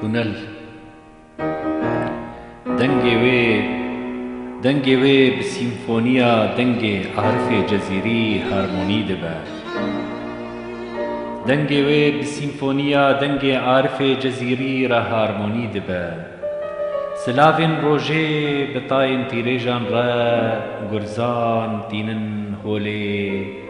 Tunel Dengê wê Dengê wê bi sîmfoniya dengê Arifê Cezîrî harmonî dibe. Dengê wê bi sîmfoniya dengê Arifê Cezîrî re harmonî dibe. Silavên rojê bi tayên tîrêjan re gurzan tînin holê.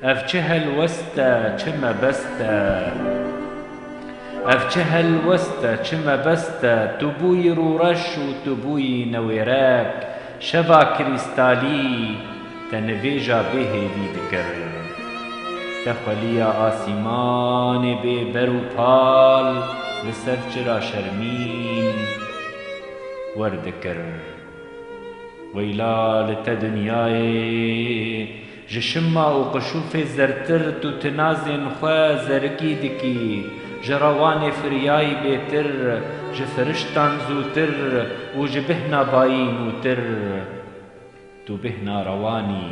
Ev çi helwest e, çi mebest e. Ev çi helwest e, çi mebest e, tu bûyî rûreş û tu bûyî newêrek, şeva krîstalî te nivêja bê hêvî dikir. Te xweliya asîmanê bê ber û pal li ser çira şermîn werdikir. Weyla li te dinyayê Ji şima û qişûfê zertir tu tinazên xwe zerigî dikî, ji rewanê firyayî bêtir, ji firiştan zûtir û ji bêhna bayî nûtir. Tu bêhna rewan î,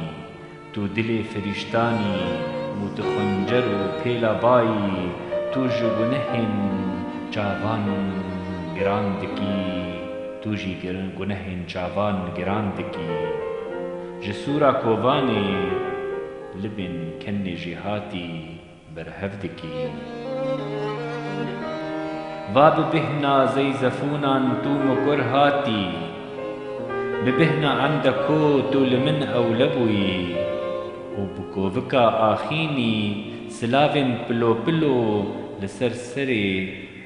tu dilê firîştan î û tu xuncer û pêla bayî, tu ji gunehên çavan giran dikî, tu jî gunehên çavan giran dikî. Ji sûra kovanê libên kennê jî hatî berhev dikîn. Va bi bihna zeyzefûnan tû mikur hatî, bi bihna emde ko tû li min ewle bûyî û bi kovika axînî silavên pilo pilo li ser serê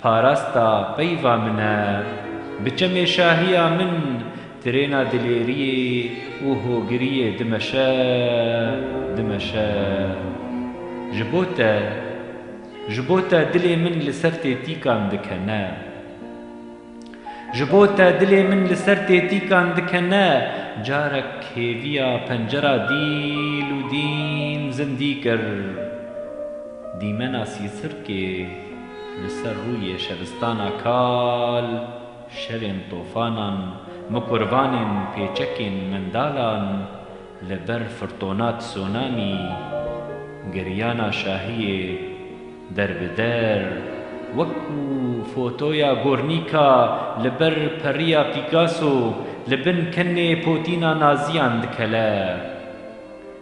Parasta peyva min e. Bi çemê şahiya min tirêna dilêriyê û hogiriyê dimeşe, dimeşe. Ji bo te, ji bo te dilê min li ser tê tîkan dikene. Ji bo te dilê min li ser tê tîkan dikene, carek hêviya pencera dîl û dîn zindî kir. Dîmena sîsirkê. Li ser rûyê şevistana kal, şevên tofanan, mikurvanên, pêçekên, mindalan, li ber firtona tsunami, giryana şahiyê, der bi der, wekû fotoya Gornîka li ber periya Pîkaso, li bin kenê potîna naziyan dikele.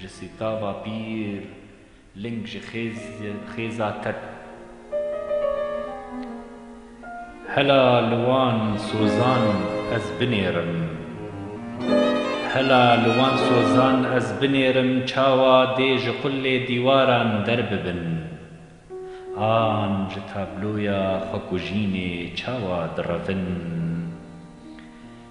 Ji sîtava pîr ling ji xêza ket. Hela li wan sozan ez binêrim. Hela li wan sozan ez binêrim çawa dê ji qulê dîwaran derbibin. An ji tabloya xwekujînê çawa direvin.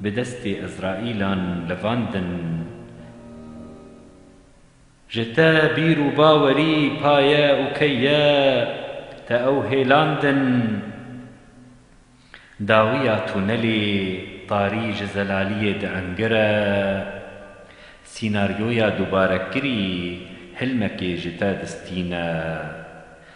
bi destê Îsraîlan livandin. Ji te bîr û bawerî paye û key ye, te ew hêlandin. Dawiya tunelê tarî ji zelaliyê diengire. Sînaryoya dubarekirî hilmekê ji te distîne.